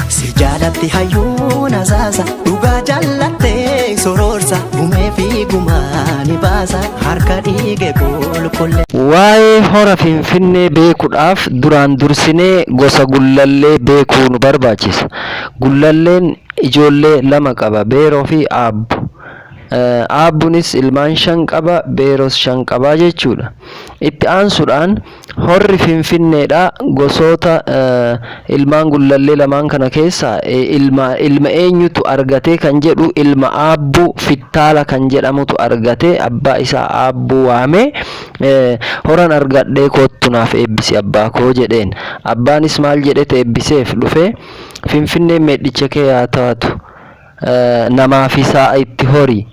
Si jaalatti hayyuun asaasa dhugaa jaallattee soroorsa gumee fi gumaa ni baasa harka dhiige qulqulle. Waa'ee hora Finfinnee beekuudhaaf duraan dursinee gosa gullallee beekuu nu barbaachisa. Gullalleen ijoollee lama qaba, Beeroo fi Aabbo. Eh, Aabbunis ilmaan shan qaba, Beeros shan qaba jechuudha. Itti aansuudhaan Horri Finfinneedhaa gosoota ilmaan Gullallee lamaan kana keessaa ilma ilma eenyutu argatee kan jedhu ilma Aabbuu Fittaala kan jedhamutu argate abbaa isaa Aabbuu waamee horan argadhee koottu naaf eebbisi abbaa koo jedheen abbaanis maal jedhet eebbiseef dhufee Finfinneen meedhicha kee haa taatu namaa fi sa'a itti hori,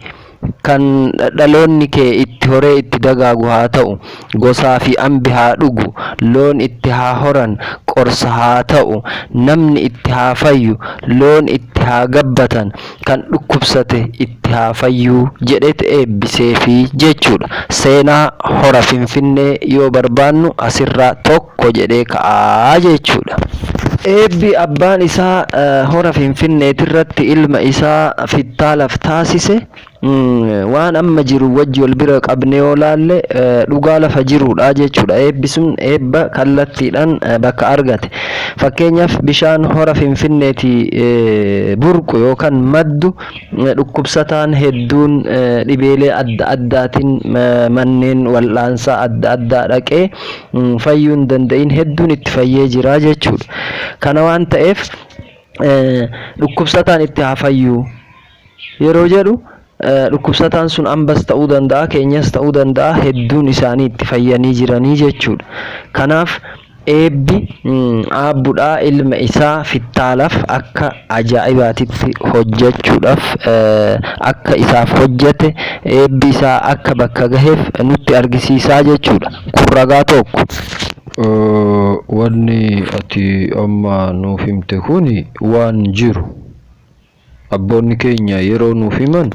kan dhaloonni kee itti horee itti dagaagu haa ta'u, gosaa fi ambi haa dhugu, loon itti haa horan, qorsa haa ta'u, namni itti haa fayyu, loon itti haa gabbatan, kan dhukkubsate itti haa fayyu jedheet eebbiseefi jechuudha. Seenaa Hora Finfinnee yoo barbaannu asirraa tokko. tokko jedhee ka'a jechuudha. Eebbi abbaan isaa Hora Finfinneetirratti ilma isaa Fittaalaaf taasise waan amma jiru wajji wal bira qabnee yoo laalle dhugaa lafa jiruudha jechuudha. Eebbi sun eebba kallattiidhaan bakka argate. Fakkeenyaaf bishaan Hora Finfinneetii burqu yookaan maddu dhukkubsataan hedduun dhibeelee adda addaatiin manneen wal'aansaa adda addaa dhaqee fayyuu hin danda'iin hedduun itti fayyee jira jechuudha. Kana waan ta'eef dhukkubsataan itti haa fayyuu yeroo jedhu dhukkubsataan sun ambas ta'uu danda'a keenyas ta'uu danda'a hedduun isaanii itti fayyanii jiranii jechuudha. Kanaaf eebbi aabbudhaa ilma isaa fittaalaf akka ajaa'ibaatitti hojjechuudhaaf akka isaaf hojjete eebbi isaa akka bakka gaheef nutti argisiisaa jechuudha. Kun ragaa tokko. Wanni ati amma nuuf himte kun waan jiru. Abboonni keenya yeroo nuuf himan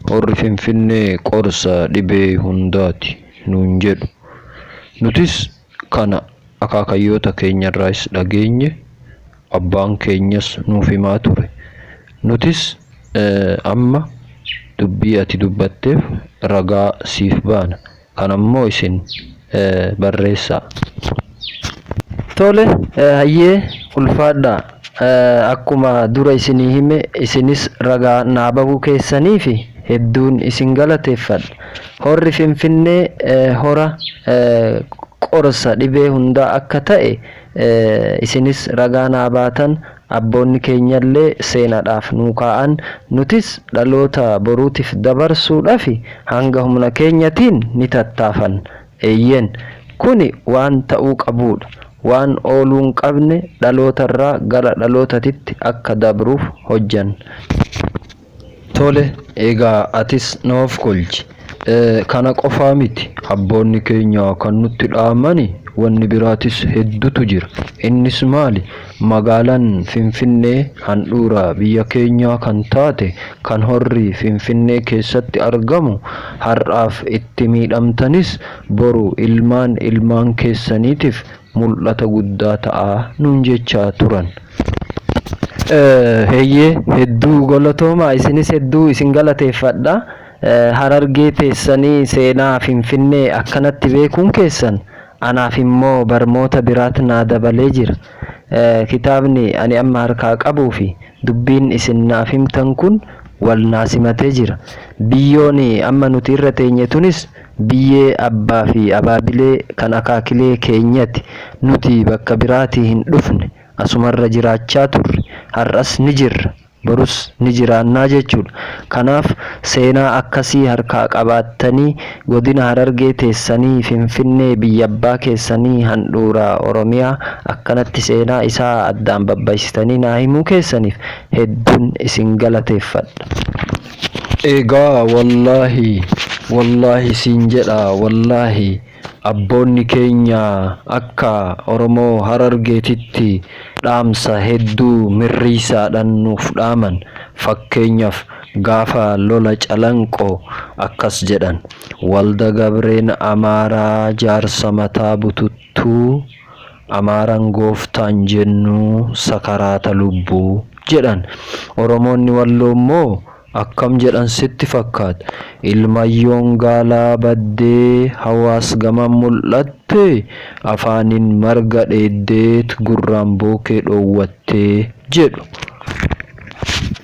horri Finfinnee qorsa dhibee hundaati nuun jedhu. Nutis kana akaakayyoota keenyarraayis dhageenye, abbaan keenyas nuuf himaa ture. Nutis amma dubbii ati dubbatteef ragaa siif baana. kana immoo isin barreessaa. Tole hayyee ulfaadhaa. Akkuma dura isinii hime isinis ragaa naa bahuu keessaniif hedduun isin galateeffadha. Horri Finfinnee hora qorsa dhibee hundaa akka ta'e isinis ragaa naa baatan Abboonni keenyallee seenaadhaaf nuu kaa'an, nutis dhaloota boruutiif dabarsuudhafi hanga humna keenyatiin ni tattaafanna. Eeyyeen, kuni waan ta'uu qabuudha. Waan ooluu hin qabne dhalootarraa gara dhalootatitti akka dabruuf hojjanna. Tole egaa atis nuuf kolchi. Kana qofaa miti abboonni keenya kan nutti dhaamani wanni biraatis heddutu jira. Innis maali? Magaalan Finfinnee handhuura biyya keenyaa kan taate kan horri Finfinnee keessatti argamu har'aaf itti miidhamtanis boru ilmaan ilmaan keessaniitif mul'ata guddaa ta'a nuun jechaa turan. Heyyee hedduu galatoomaa isinis hedduu isin galateeffadha. Harargee teessanii seenaa Finfinnee akkanatti beekuun keessan anaaf immoo barmoota biraat naa dabalee jira. Kitaabni ani amma harkaa qabuu fi dubbiin isin naaf himtan kun wal naa simatee jira. Biyyoon amma nuti irra teenye tunis Biyyee Abbaa fi Abaabilee kan akaakilee keenyati. Nuti bakka biraatii hin dhufne. Asumarra jiraachaa turre. Har'as ni jirra. Borus ni jiraannaa jechuudha. Kanaaf seenaa akkasii harkaa qabaattanii Godina Harargee teessanii Finfinnee biyyabbaa keessanii handhuura Oromiyaa akkanatti seenaa isaa addaan babbaisitanii naa himuu keessaniif hedduun isin galateeffadha. Egaa wallaahi wallaahi siin jedha wallaahi abboonni keenya akka oromoo harargeetitti dhaamsa hedduu mirriisaadhan nuuf dhaaman fakkeenyaf gaafa lola calanqo akkas jedhan walda gabreen amaaraa jaarsa mataa bututtuu Tuu, Amaaran gooftaan jennu sakaraata lubbu jedhan. Oromoonni Walloo immoo akkam jedhan sitti fakkaat? Ilmayyoon gaalaa baddee hawaas gaman mul'atte, afaaniin marga dheeddeet gurraan bookee dhoowwatte jedhu.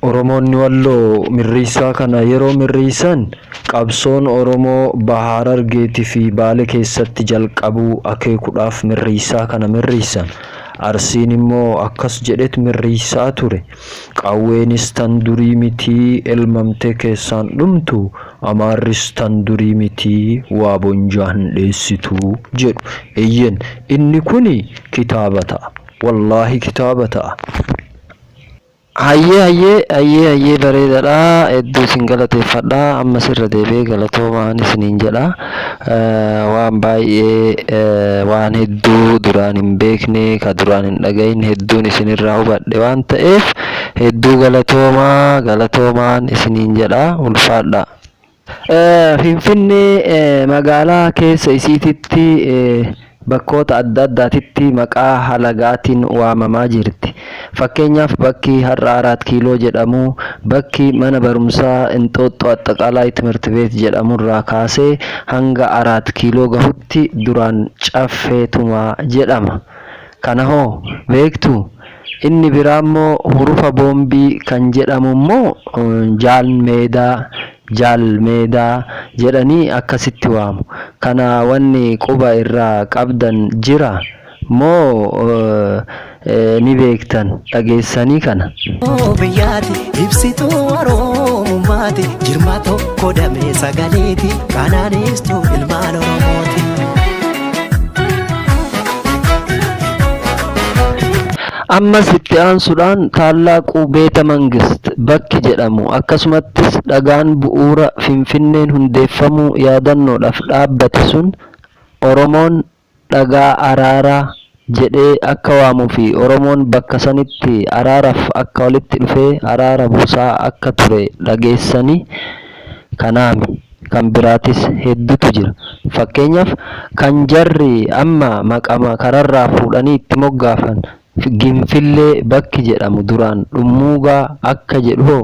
Oromoonni Walloo mirriissaa kana yeroo mirriissan qabsoon Oromoo Baha Harargeeti fi Baale keessatti jalqabuu akeekudhaaf mirriissaa kana mirriissan. Arsiin immoo akkas jedhet mirriissaa ture, Qawweenis tan durii mitii elmamtee keessaan dhumtu, Amaarris tan durii mitii waa bonjaa hin dheessitu jedhu. Eeyyen inni kuni kitaaba ta'a. Wallaahi kitaaba ta'a. Hayyee hayyee hayyee hayyee bareedadha hedduu isin galateeffadha ammas irra deebi'ee galatoomaan isiniin jedha waan baay'ee waan hedduu duraan hin beekne ka duraan hin dhagahin hedduun isinirraa hubadhe waan ta'eef hedduu galatoomaa galatoomaan isiniin jedha ulfaadhaa. Finfinnee magaalaa keessa isiititti bakkoota adda addaatitti maqaa halagaatiin waamamaa jirti. Fakkeenyaaf bakki har'a Araat Kiiloo jedhamu, bakki mana barumsaa Inxooxxoo Axxaqaalaay Timirtibeet jedhamurraa kaasee hanga Araat Kiiloo gahutti duraan Caffee Tumaa jedhama. Kana hoo beektuu? Inni biraa immoo hurufa boombii kan jedhamu immoo Jaal Meedaa, Jaal Meedaa, jedhanii akkasitti waamu. Kana wanni quba irraa qabdan jira? Moo ni beektan dhageessanii kana? Oromoo biyyaati ibsituu Oromummaati jirma tokko damee sagaleeti kanaan ibstuu ilmaan Oromooti. Ammas itti aansudhaan Taallaaquu Beeta Mangist bakki jedhamu akkasumattis dhagaan bu'uura Finfinneen hundeeffamuu yaadannoodhaf dhaabbate sun Oromoon dhagaa araaraa jedhee akka waamuu fi Oromoon bakka sanitti araaraf akka walitti dhufee araara buusaa akka ture dhageessani kanaami kan biraatis heddutu jira fakkeenyaf kan jarri amma maqama kararraa fuudhanii itti moggaafan ginfillee bakki jedhamu duraan dhummuugaa akka jedhu hoo